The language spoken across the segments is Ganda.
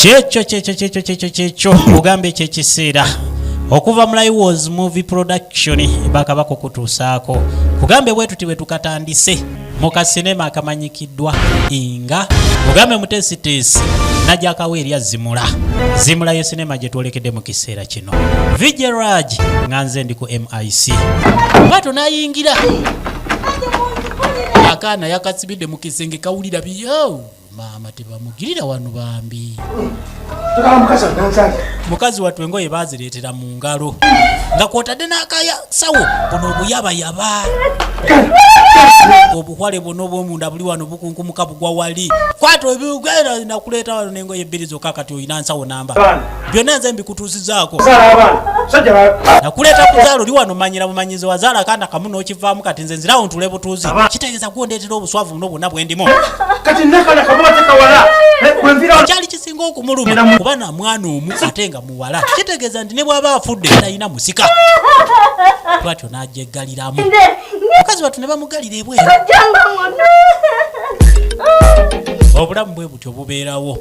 kyekyo kyekyo kyekyo kyekyo kyekyo ogamba ekyo ekiseera okuva mu liwos movie production bakaba kukutuusaako kugambe bwe tuti bwe tukatandise mu kasinema akamanyikiddwa nga ogambe muteesiteesi najakawo erya zimula zimula ye sinema gye twolekedde mu kiseera kino vijeraj nga nze ndi ku mic nga tonayingira akaana yakasibidde mu kisenge kawulira biyo maama tebamugirira wano bambi mukazi wattu engoye bazireetera mu ngalo nga kwotadde n'akasawo buno obuyabayaba obuhwale bwona obwomunda buli wano bukunkumuka bugwa wali kwata ebigenda nakuleeta wano n'engoye ebbiri zokka kati olina nsawo namba byonna nze mbikutuusizaako nakuleeta kuzaala oli wano manyira bumanyizi wazaala kaana kamu n'okivaamu kati nze nzirawo ntule butuuzi kitegeeza gwondeetera obuswavu buno bwonna bwe ndimu kyali kisinga okumuluma kuba na mwana omu ate nga muwala kitegeeza nti ne bw'aba afudde talina musika twatyo n'agyeggaliramu mukazi watu ne bamugalira ebweru obulamu bwe bwentyo bubeerawo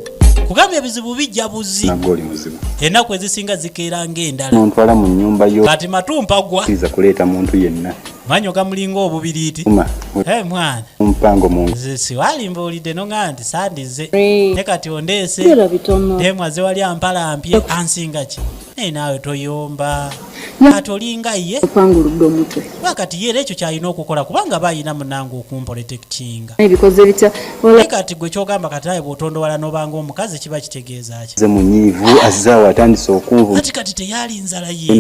kubanga ebizibu bijja buzi enaku ezisinga zikeera ngaendalanontwala mu nyumba yo kati matumpagwaiza kuleeta muntu yenna manyo gamulinga obubiriiti eh, mwana mpango siwalimba olidde nogaa nti sandize ne kati ondeese emwaze wali ampala mpye ansinga ki naye naawe toyomba ati olinga ye okwanguludde omutwe wakati ye era ekyo kyalina okukola kubanga aba alina munange okumprotektinga ebikoze bitya kati gwe kyogamba kati aye bwotondowala nobanga omukazi kiba kitegeeza ki ze munyiivu azzaawo atandise okunvu kati kati teyaali nzala ye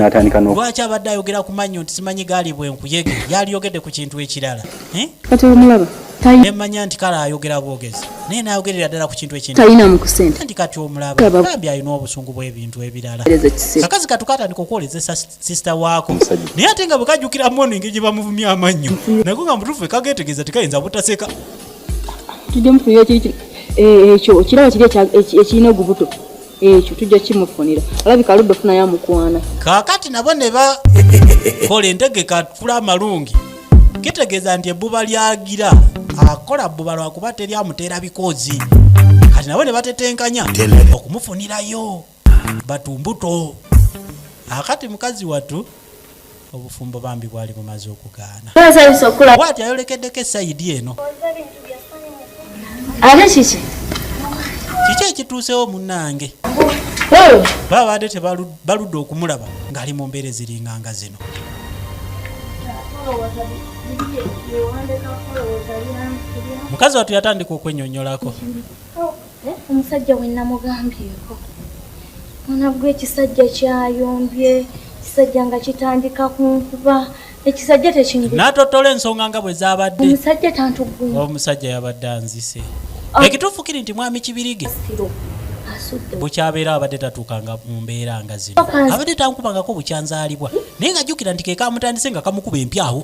lwaki abadde ayogera ku mannyo nti simanyi gaali bwenkuyege yaaliyogedde ku kintu ekirala eh? kati omulaba nemanya nti kale ayogera bwogezi naye nayogerera ddala ku kintu ekinti kati omulabaambi alina obusungu bw'ebintu ebirala kakazi katukatandika okwolezesa sisita waako naye ate nga bwekajjukira moni engeri gye bamuvumya amannyo nago nga mutuufu ekageetegeeza tekayinza butaseka eh, ekyo kiraba kiri ekirina ogubuto ekyo tujja kimufunira alabika aludde ofuna yamukwana kakati nabo ne bakola entegeka atula amalungi kitegeeza nti ebbuba lyagira akola bbuba lwakuba teri amuteera bikoozi kati nabo ne batetenkanya okumufunirayo batumbuto akati mukazi watu obufumbo bambi bwali bumaze okugaana bwati ayolekeddeko esayidi eno ate kiki kiki ekituusewo munange babadde tebaludde okumulaba ng'ali mu mbeera eziringanga zino mukazi watu yatandika okwenyonyolako Eh, omusajja we namugambyeko mwana gwe ekisajja kyayombye ekisajja nga kitandika kunkuba ekisajja tekinatottola ensonga nga bwe zabadde omusajja tantugwe omusajja yabadde anzise ah. ekituufu kiri nti mwami kibirige bukyabeera abadde tatuuka nga mu mbeera nga zino abadde tankubangako bukyanzaalibwa naye nga jjukira nti kekamutandise nga kamukuba empyawo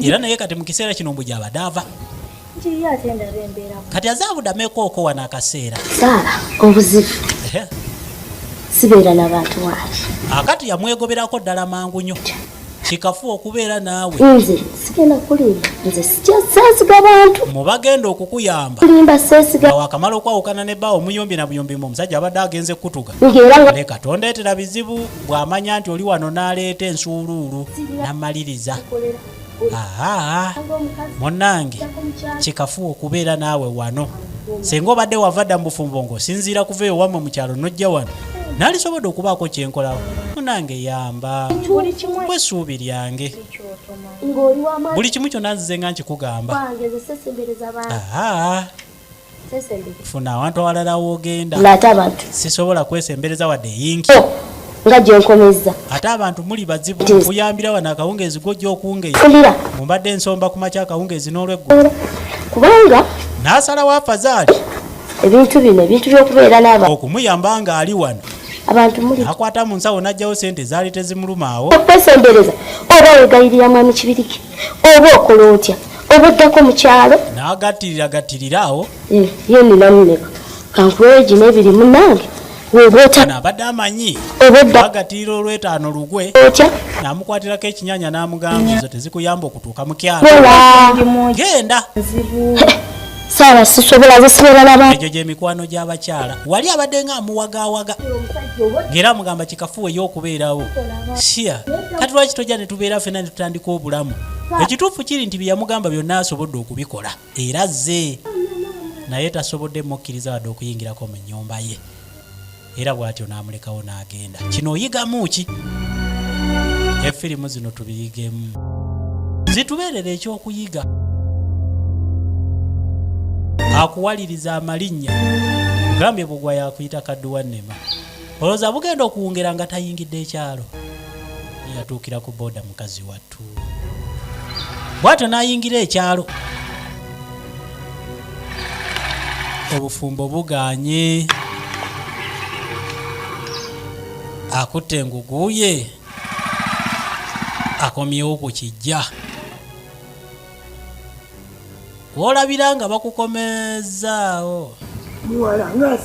era naye kati mu kiseera kino mbu gyabadde ava kati azaabudameko okowa n'akaseera saala obuzibu sibeera nabantu wange akati yamwegoberako ddala mangu nyo kikafu okubeera naawe nze sigenda kulimba nze sikyasasiga bantu mubagenda okukuyamba kulimba sesiga wakamala okwawukana ne baawo muyombi na buyombi mu omusajja abadde agenze kukutuga ne katonda etera bizibu bw'amanya nti oli wano n'aleeta ensuuluulu n'amaliriza aa munnange kikafuwa okubeera naawe wano singa obadde wava dda mu bufumbo ng'osinziira kuva eyo wammwe mu kyalo n'ojja wano nalisobodde okubaako kyenkolawo munange yamba bwe essuubi lyange buli kimu kyonna nzize nga nkikugamba funa awantu awalala wogenda ng'ate abantu sisobola kwesembereza wadde yinki oh, nga gyenkomezza ate abantu muli bazibu kuyambira wano akawungeezi gojja okungeya mumbadde ensomba ku makya akawungeezi n'olweggulu kubanga n'asala wa fazaali ebintu bino ebintu by'okubeera n'aba okumuyamba ng'ali wano abantu muli akwata mu nsawo n'ajjawo sente zaali tezimulumaawo okwesembereza oba wegayirira mwami kibiriki oba okola otya oba oddako mu kyalo n'agattirira gattirira awo eh, ye ninamu meka kankuweyo gino ebiri munange woba otya abadde amanyi oba odda agattirira olwetaano lugwe otya namukwatirako ekinyanya n'amugamba ezo tezikuyamba okutuuka mu kyalo genda saala sisobola zisobola laba egyo gyemikwano gy'abakyala wali abadde nga amuwagaawaga ng'era amugamba kikafuwa ey'okubeerawo siya kati lwaki tojja ne tubeera fena ne tutandika obulamu ekituufu kiri nti byeyamugamba byonna asobodde okubikola era ze naye tasobodde mukkiriza wadde okuyingirako mu nnyumba ye era bwatyo n'amulekawo n'agenda kino oyigamu ki efirimu zino tubiyigemu zitubeerera ekyokuyiga akuwaliriza amalinnya gambye bugwa yakuyita kadduwa nema olowooza bugenda okuwungera nga tayingidde ekyalo yatuukira ku booda mukazi watu bwatyo n'ayingira ekyalo obufumbo buganye akutte engugu ye akomyewo ku kijja woolabira nga bakukomezaawo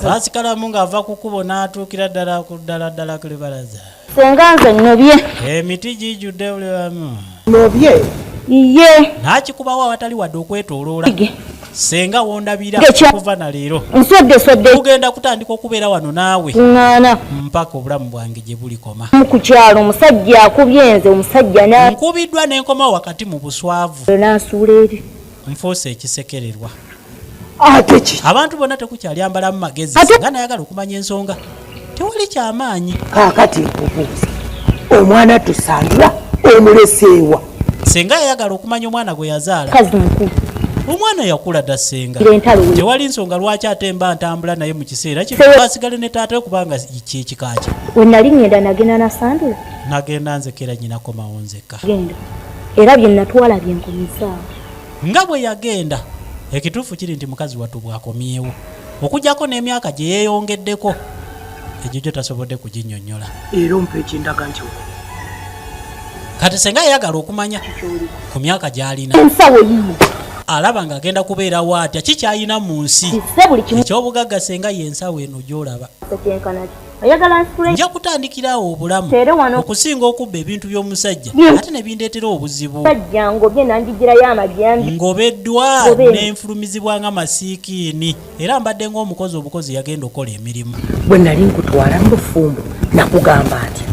basikalamu ng'ava ku kubo n'atuukira ddala ku ddala ddala ku libalaza senga nze nobye emiti gijudde buli wamu nobye iye nakikubawo awatali wadde okwetoloola senga wondabira okuva na leero ugenda kutandika okubeera wano naawe ŋŋaana mpaka obulamu bwange gye bulikoma ku kyalo omusajja akubye nze omusajja nkubiddwa nenkomawo wakati mu buswavu nansuula eri nfuuse ekisekererwa ate ki abantu bonna tekukyali ambalamu magezi Ate- nga nayagala okumanya ensonga tewali kyamaanyi kaakati nkubuuza omwana tusandula omuleseewa senga yayagala okumanya omwana gwe yazaala kazi mukulu omwana yakula dda senga ira entalo we tewali nsonga lwaki ate mba ntambula naye mu kiseera kino Sewe- asigale ne taata we kubanga kyekika kye we nali ŋŋenda nagenda nasandula nagenda nzekera nyinako mawonzeka genda era bye natwala bye nkomezaawo nga bwe yagenda ekituufu kiri nti mukazi wattu bw'akomyewo okujjako n'emyaka gye yeeyongeddeko egyo gyo tasobodde kuginnyonnyola era ompa ekindaga nti kati senga ayagala okumanya ku myaka gy'alina ensawo yiyo alaba ng'agenda kubeerawo atya kikyalina mu nsi ekyobugagga senga y'ensawo eno gy'olaba nja kutandikira awo obulamu okusinga okubba ebintu by'omusajja ate ne bindeetera obuzibu ng'obeddwa n'enfulumizibwa nga masiikiini era mbadde ng'omukozi obukozi yagenda okukola emirimu bwe nali nkutwala mu bufumbo nakugamba nti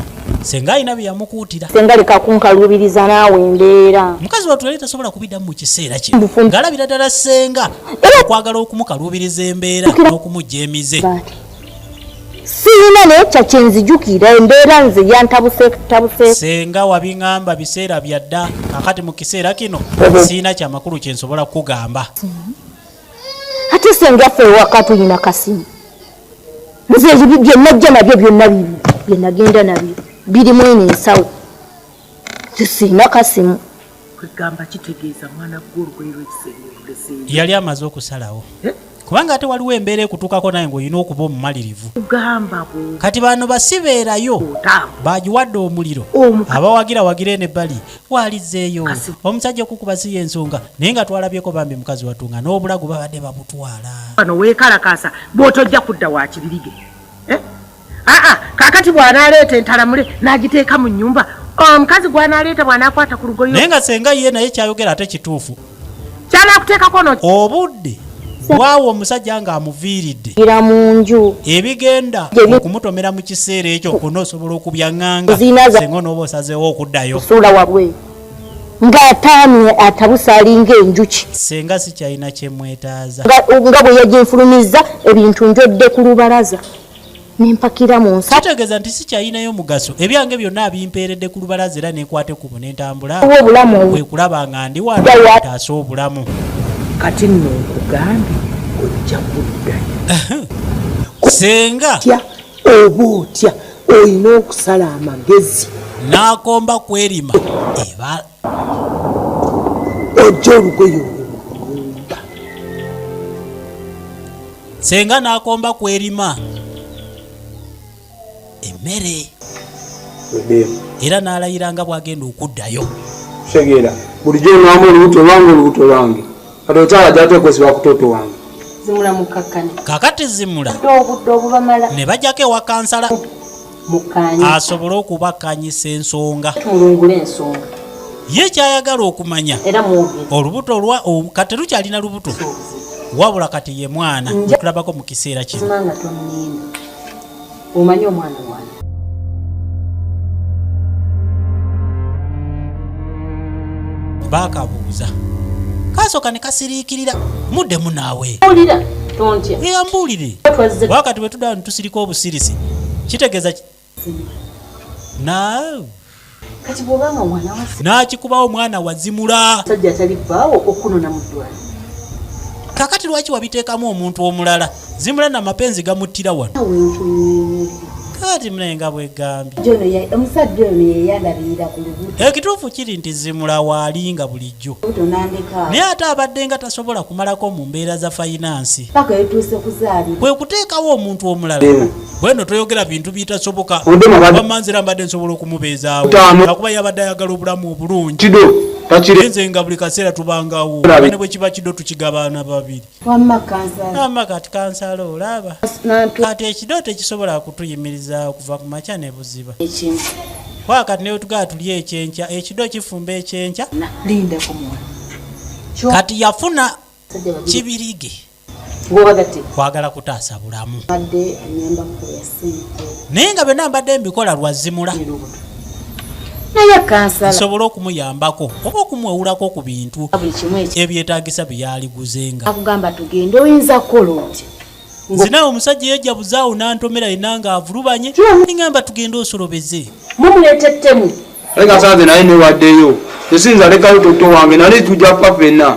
senga alina bye yamukuutira senga leka kunkaluubiriza naawe embeera mukazi watu yali tasobola kubiddamu mu kiseera kye ng'alabira ddala senga okwagala okumukaluubiriza embeera n'okumujja emize siyina naye ekya kyenzijukira embeera nze yantabusetabuse senga wabiŋamba biseera byadda kakati mu kiseera kino siyina kyamakulu kyensobola kukugamba ate senga ffe ewaka tulina kasimu nze byenajja nabyo byonna bibi byenagenda nabyo biri mwene ensawo sisina kasimu kwegamba kitegeeza mwana gwe olugoye lwekisenge luleseeyo yali amaze okusalawo eh? kubanga ate waliwo embeera ekutuukako naye ngaolina okuba omumalirivu kati bano basibeerayo bagiwadde omuliro abawagira wagire ne bali walizeeyo omusajja okukuba si yensonga naye nga twalabyeko bambi mukazi wattu nga n'obulago babadde babutwala bano weekalakaasa bwotojja kudda wakibirige eh? aa kakati bwanaaleeta entalamule n'agiteeka mu nnyumba omukazi gwanaaleeta bw'anaakwata ku lugoyo naye nga senga ye naye kyayogera ate kituufu kyanakuteekako no obudde waawo omusajja ng'amuviiridde ira mu nju ebigenda okumutomera mu kiseera ekyo kona osobola okubyaŋŋanga senga onooba osazeewo okuddayo suula wabwe ng'ataamye atabuse alinga enjuki senga sikyalina kyemwetaaza nga bwe yaginfulumizza ebintu njodde ku lubalaza nempakira mu nsa kitegeeza nti sikyayinayo mugaso ebyange byonna abimpeeredde ku lubalaza era nekwate ku bu nentambula bwe kulaba nga ndi wanotaasa obulamu kati nno nkugambye ojja kuddayo senga oba otya olina okusala amagezi n'akomba kwerima eba ojja olugoye olwomunda senga n'akomba ku erima emmere era n'alayira nga bw'agenda okuddayo kitegeera bulijjo onwamu olubuto lwange olubuto lwange kati okyala gyatekwesiba kutoto wange kakati zimula ne bajjako ewa kansala asobole okubakanyisa ensonga ye kyayagala okumanya olubuto lwa kati lukyalina lubuto wabula kati ye mwana okulabako mu kiseera kino bakabuuza kasooka ne kasiriikirira muddemu naawe yambuulire wakati bwe tuda tusirika obusirisi kitegeeza n'akikubawo omwana wazimula kakati lwaki wabiteekamu omuntu omulala zimula na mapenzi gamuttira wano kati mune nga bwegambye ekituufu kiri nti zimula waalinga bulijjo bulijjo naye ate abadde nga tasobola kumalako mu mbeera za fayinansi kwe kuteekawo omuntu omulala bweno toyogera bintu bitasoboka bamanzira mbadde nsobola okumubeezaawo akuba yabadde ayagala obulamu obulungi enze nga buli kaseera tubangawo ne bwe kiba kido tukigabaana babiri wamma kansala wamma kati kansala olaba kati ekidooto ekisobola kutuyimiriza okuva ku makya ne buziba kwa kati newetugaa tuli ekyenkya ekido kifumba ekyenkya kati yafuna kibirige kwagala kutaasa bulamu naye nga byonna mbadde mbikola lwazimula naye kansala nsobola okumuyambako oba okumwewulako ku bintu ebyetaagisa bye yaaliguzenga akugamba tugende oyinza kukola oti nze nawe omusajja yajja buzaawo n'antomera yena nga avulubanye engamba tugende osolobeze mumuleeta ettemu naye kasanze naye newaddeyo esinza lekayo toto wange nali tujja kufa fenna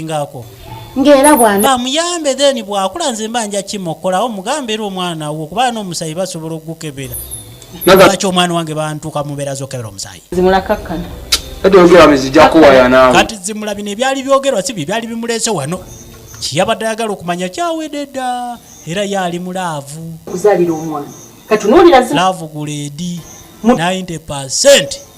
ngako ngera bwana bamuyambe then bwakula nze mba nja kimokolawo mugambe era omwana wo kuba n'omusayi basobola okugukebera lwaki omwana wange bantuka mubeera zokebera omusayi zimulakakkana kati zimula bino ebyali byogerwa si bye byali bimuleese wano kiyabadde ayagala okumanya kyawede dda era yaali mu laavu laavu guleedi 90 percent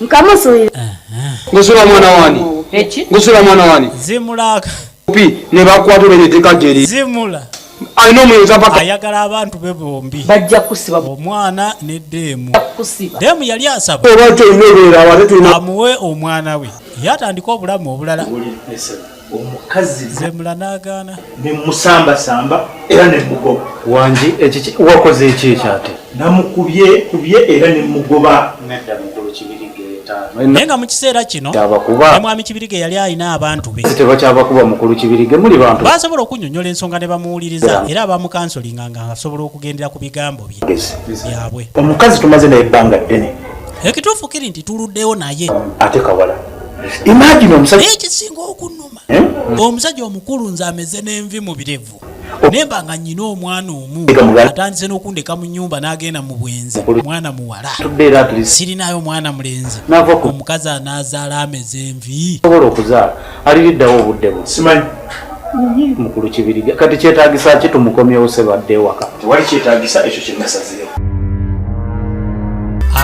nkamusulira ngusula mwana wani ngusula mwana wani zimulaka pi ne bakwata olwo etteeka gyeri zimula alina omuyoza paka ayagala abantu be bombi bajja kusiba omwana ne deemu deemu yali asaba oba kyolina obeera ate tulina amuwe omwana we yatandika obulamu obulala omukazi zemula nagaana nemusambasamba era nemugoba wangi ekiki wakoze eki ekyate namukubye kubye era nemugoba nedda mukulu kibirige naye nga mu kiseera kino nemwami kibirige yali alina abantu be tebakyabakuba mukulu kibirige muli bantu basobola okunyonyola ensonga ne bamuwuliriza era abamukansolinga nga asobola okugendera ku bigambo bye byabwe omukazi tumaze naye ebbanga ddene ekituufu kiri nti tuluddewo naye ate kawala imagine omusajja ekisinga okunuma eh? omusajja omukulu nze ameze n'envi mu birevu oh. nemba nga nyina omwana omu atandise n'okundeka mu nyumba n'agenda mu bwenzi omwana muwala sirinayo omwana mulenzi omukazi anaazaala ameze envi mukulu kibirige kati kyetagisa ki tumukomyewo sebadde ewaka tewali kyetagisa ekyo kyenasazeewo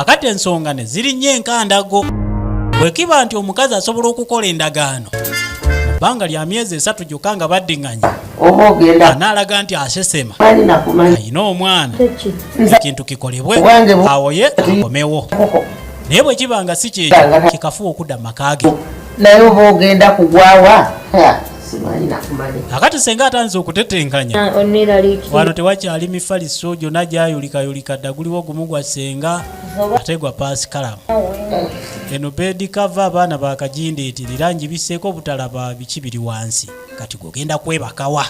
akati ensonga ne zirinnya enkandago bwe kiba nti omukazi asobola okukola endagaano mu bbanga lya myezi esatu gyokka nga baddiŋŋanya oba ogenda anaalaga nti asesema alina omwana ekintu kikolebwe awoye akomewo naye bwe kiba nga si kyekyo kikafuwa okudda mu maka ge naye oba ogenda kugwawa akati senga atanze okutetenkanya ah, wano tewakyali mifaliso gyona gyayulikayulika dda guliwo gumu gwa senga ate gwa paasikalamu ah, eno bedi kava abaana bakajindeetirira njibiseeko obutalaba biki biri wansi kati gogenda kwebakawa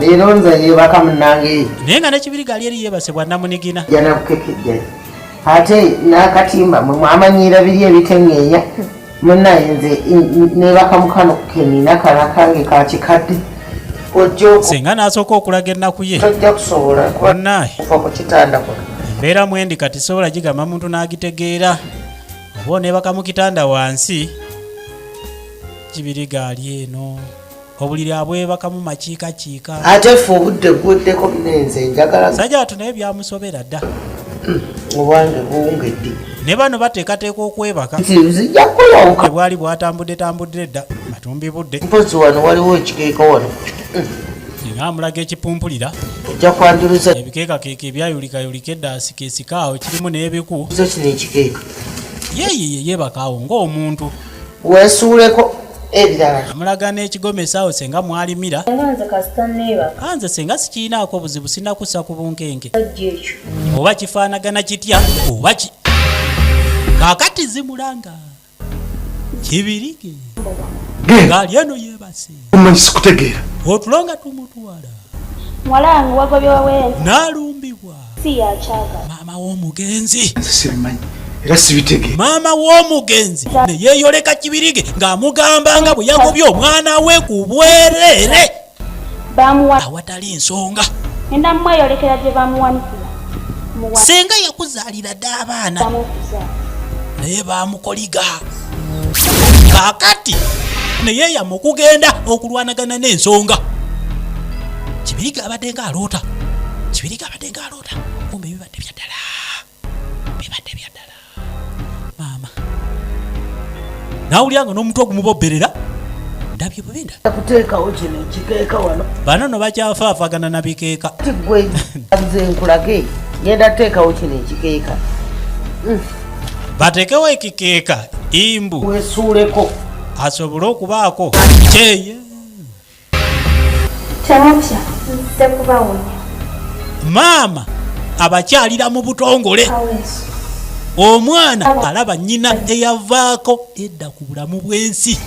leero nze yebaka munange naye nga nekibiriga ali eri yebase bwanamunigina janakukekejjai ate nakatimba mwe mwamanyiira biri ebiteŋeenya munaye nze nebaka mukano kenina kala kange kakikadde singa nasooka okulaga ennaku ye tojja kusobola banaye kuva ku kitanda kuno embeera mwendi kati sobola gigamba muntu n'agitegeera oba onebaka mu kitanda wansi kibiriga ali eno obuliri abwebakamu makiika kiika ate fe obudde buweddeko munenze njagala sajja watu naye byamusobera dda hmm, obwange buwungedde ne bano bateekateeka okwebaka zijja kuyawuka bwali bwatambudde tambuddire dda matumbi budde mpozi wano waliwo ekikeeka wano hmm. nga amulaga ekipumpulira ojja kwanjuluza ebikeekakeeka ebyayulikayulika eddaasi kesikaawo kirimu n'ebiku zo kino ekikeeka yeyeye yebakaawo ng'omuntu wesuuleko ebirala amulaga n'ekigoma esaawo senga mwalimira a nze senga sikirinaako obuzibu sinakussa ku bunkenke oba kifaanagana kitya oba ki kakati zimulanga kibirige ngaali eno yebase omanyi sikutegeera otulo nga tumutwala naalumbibwa si yakyagala. Maama w'omugenzi. Nze sibimanyi era sibitege. Maama w'omugenzi ne yeeyoleka Kibirige ng'amugamba nga bwe yagobye omwana we ku bwereere awatali nsonga. Ngenda mweyolekera gye bamuwanikira. Ssenga yakuzaalira dda abaana naye baamukoliga. kakati naye yama okugenda okulwanagana n'ensonga kibiriga abadde nga aloota kibiriga abadde nga aloota kumbe bibadde byaddala bibadde byaddala maama nawulira nga n'omuntu ogumuboberera ndabye bubi kuteekawo kino ekikeeka wano bano no bakyafaafagana na bikeeka tigwe nze nkulage ngenda teekawo kino ekikeeka hmm. bateekewo ekikeeka imbu wesuuleko asobole okubaako kyeye temutya nze kubawonya maama abakyalira mu butongole omwana alaba nnyina eyavaako edda ku bulamu bw'ensi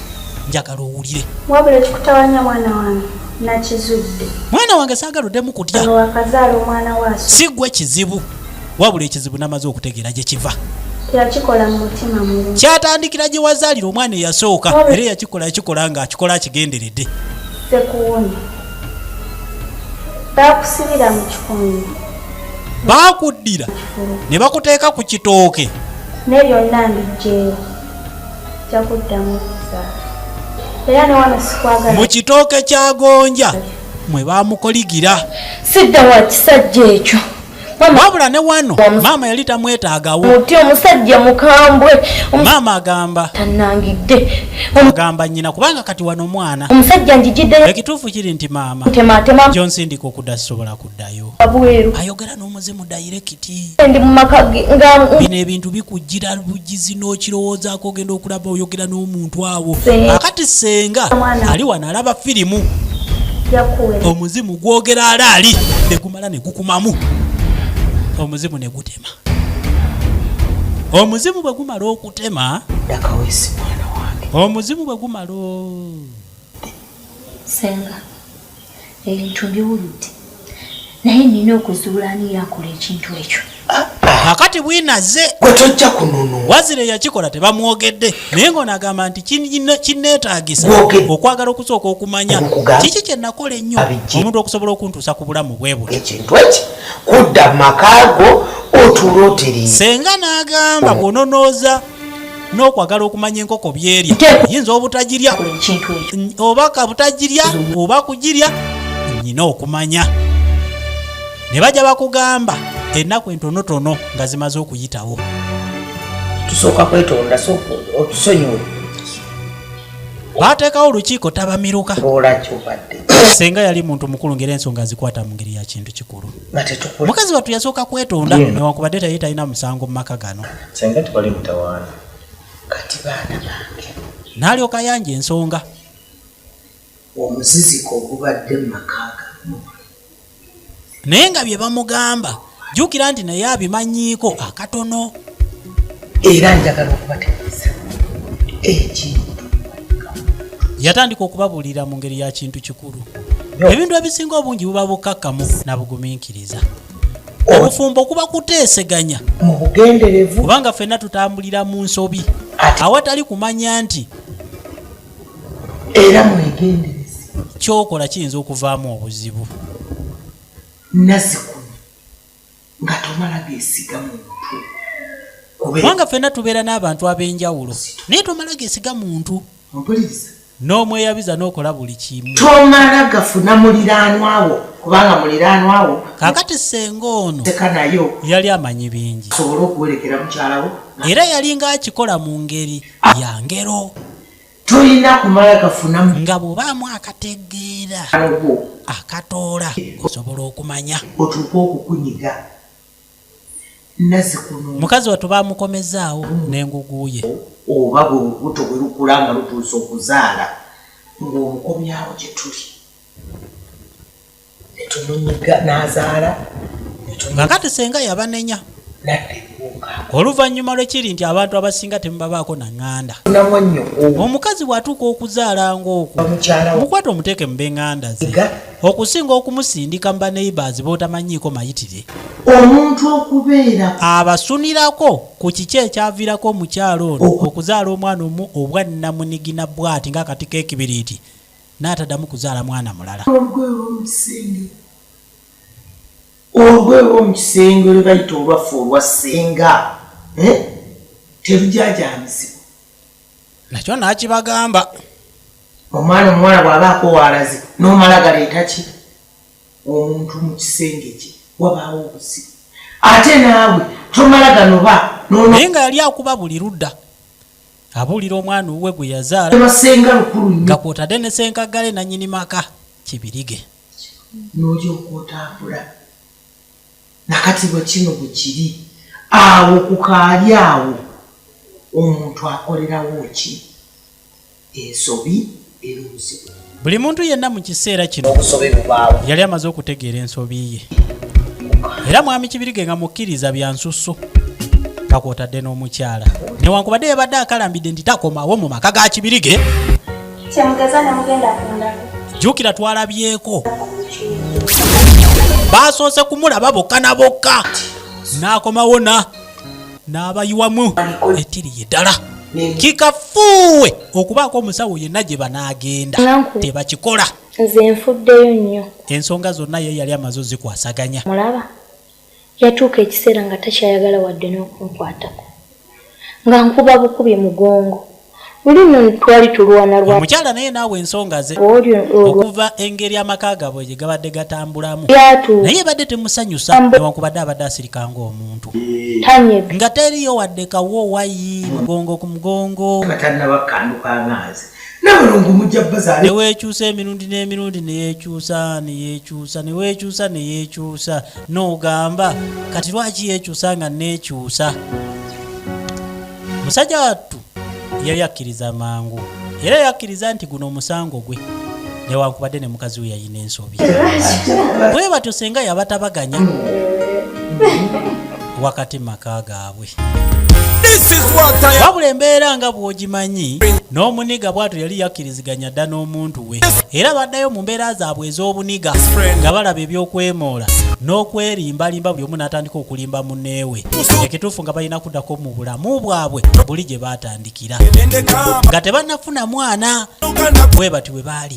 njagala owulire wabula kikutawanya mwana wange nakizudde mwana wange saagala oddemu kutya wakazaala omwana waaso si gwe kizibu wabula ekizibu namaze okutegeera gye kiva yakikola mu mutima mubi kyatandikira gye wazaalira omwana eyasooka era yakikola yakikola nga akikola akigenderedde sekuwuni bakusibira mu kikunyi baakuddira ne bakuteeka ku kitooke ne byonna mbijjeewo mu kitooke kya gonja mwe bamukoligira sidda wa kisajja ekyo wabula ne wano maama yali tamwetaagawo muti omusajja mukambwe maama agamba tanangidde agamba nyina kubanga kati wano omwana omusajja njijidde ekituufu kiri nti maama tematema gyonsindika okuda sisobola ku ddayo abweru ayogera n'omuzimu dayirekiti ndi mu maka ge nga bino ebintu bikujjira bugizi n'okirowoozaako ogenda okulaba oyogera n'omuntu awo akati senga ali wano alaba firimu omuzimu gwogera alaali ne gumala ne gukumamu omuzimu ne gutema omuzimu bwe gumala okutema omuzimu bwe gumala senga Ebintu mbiwulidde naye nina okuzuula ani yakola ekintu ekyo. Kakati bwina azze gwe tojja kunono. Wazire yakikola tebamwogedde naye ng'ono agamba nti kinneetaagisa okwagala okusooka okumanya kiki kye nakola ennyo omuntu okusobola okuntuusa ku bulamu bwe buti. Ekintu eki kudda mu makaago otuula otereeza. Senga n'agamba bw'ononooza. n'okwagala okumanya enkoko byerya yinza obutagirya oba kabutagirya oba kugirya nyina okumanya ne bajja bakugamba ennaku entonotono nga zimaze okuyitawo tusooka kwetonda otusonyiwe bateekawo olukiiko tabamiruka senga yali muntu mukulu ngeri ensonga azikwata mu ngeri ya kintu kikulu mukazi wattu yasooka kwetonda newankubadde taye talina musango mu maka gano Senga tewali mutawaana kati baana bange. N'alyoka yanja ensonga. Omuziziko ogubadde mu maka gamu. Naye nga bye bamugamba jjukira nti naye abimanyiiko akatono. Era njagala okubategeeza ekintu. Yatandika okubabuulira mu ngeri ya kintu kikulu. Ebintu ebisinga obungi buba bukkakkamu na bugumiikiriza. obufumbo kuba kuteeseganya mu bugenderevu kubanga ffenna tutambulira mu nsobi awatali kumanya nti era mwegenderezi kyokola kiyinza okuvaamu obuzibu nazikuno nga tomala gesiga muntu kubanga ffenna tubeera n'abantu ab'enjawulo naye tomala gesiga muntu mpuliriza n'omweyabiza n'okola buli kimu tomala gafuna muliraanwawo kubanga muliraanwawo kakati senga ono tekanayo yali amanyi bingi asobole okuwerekera mukyalawo era yalinga akikola mu ngeri ya ngero tolina kumala gafuna nga bwobaamu akategeera akatoola osobola okumanya otuuka okukunyiga nazikuno mukazi watu bamukomezaawo nenguguye oba bwe lubuto bwe lukula nga lutuuse okuzaala ng'omukomyawo gye tuli netumunyiga n'azaala nga kati senga yabanenya oluvannyuma lwekiri nti abantu abasinga temubabaako naŋŋanda omukazi bw'atuuka okuzaala ng'okwo mukwata omuteeke mu b'eŋŋanda ze okusinga okumusindika mu baneighbors b'otamanyiiko mayitire. Omuntu okubeera. Abasunirako ku kiki ekyaviirako omukyala ono okuzaala omwana omu obwannamunigina bwati ng'akati k'ekibiriiti n'ataddamu kuzaala mwana mulala. Olugoye olw'omu kisenge. Olugoye olw'omu kisenge lwe bayita olwaffe olwa ssenga eh, terujaajaamizibwa. nakyo nakibagamba omwana omuwala bwaba akowaalazi nomala galeeta ki omuntu mu kisenge kye wabaawo obusi ate naawe tomala ganoba naye nga yali akuba buli ludda abuulira omwana owuwe gwe yazaalasenga lukulu nga kwotadde ne senkaggale nanyini maka kibirige nolyoka otambula nakati bwe kino bwe kiri awo ku kaali awo omuntu akolerawo ki ensobi era obuzibu buli muntu yenna mu kiseera kino obusobi bubaawo yali amaze okutegeera ensobi ye era mwami kibirige nga mukkiriza bya nsusso nga kwotadde n'omukyala newankubadde yabadde akalambidde nti takomawo mu maka ga kibirige Kyemugeza ne mugenda ku ndagu. Jukira twalabyeko. Baasoose kumulaba bokka na bokka. N'akomawo na n'abayiwamu ettiri ye ddala. Kikafuuwe okubaako omusawo yenna gye banaagenda tebakikola. Nze nfuddeyo nnyo. Ensonga zonna ye yali amaze ozikwasaganya. Mulaba. Yatuuka ekiseera nga takyayagala wadde n'okunkwatako nga nkuba bukubi mugongo. Luli nno twali tulwana lwa. Omukyala naye naawe ensonga ze okuva engeri amaka gaabwe gye gabadde gatambulamu naye ebadde temusanyusa newankubadde abadde asirika ng'omuntu nga teriyo wadde kawoowayi mugongo ku mugongo. Nga tannaba kukandukanga nze. nabalongo mujja bazaale newekyusa emirundi n'emirundi neyekyusa neyekyusa newekyusa neyekyusa nogamba kati lwaki yekyusa nga nekyusa musajja wattu yali akkiriza mangu era yakkiriza nti guno omusango gwe newankubadde ne mukazi we yayina ensobi bwe batyo senga yabatabaganya wakati maka gaabwe wabula embeera nga bw'ogimanyi n'omuniga bw'ato yali yakkiriziganya dda n'omuntu we era baddayo mu mbeera zaabwe ez'obuniga nga balaba eby'okwemoola n'okwerimbalimba buli omu n'atandika okulimba muneewe ekituufu nga balina kuddako mu bulamu bwabwe buli gye baatandikira nga tebannafuna mwana bwe bati bwe baali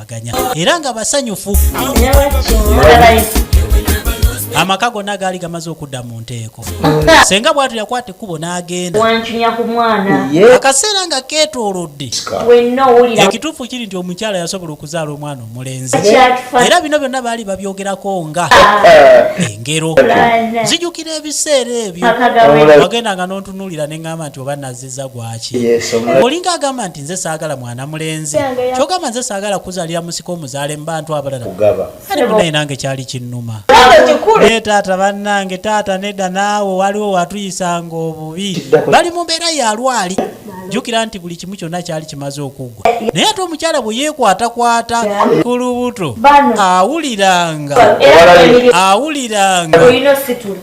baganya era nga basanyufu amaka gonna gaali gamaze okudda mu nteeko senga bwatu yakwata ekkubo n'agenda akaseera nga keetoolodde ekituufu kiri nti omukyala yasobola okuzaala omwana omulenzi era bino byonna baali babyogerako nga eh. engero nzijukira ebiseera ebyo wagenda nga n'ontunuulira ne ŋŋamba nti oba nziza gwaki olinga agamba nti nze saagala mwana mulenzi kyogamba nze saagala kuzalira musika omuzaale mu bantu abalala ali munaye nange kyali kinnuma naye taata bannange taata nedda naawe waliwo watuyisanga obubi bali mu mbeera yalwali jjukira nti buli kimu kyonna kyali kimaze okuggwa naye ate omukyala bwe yeekwatakwata ku lubuto awuliranga awuliranga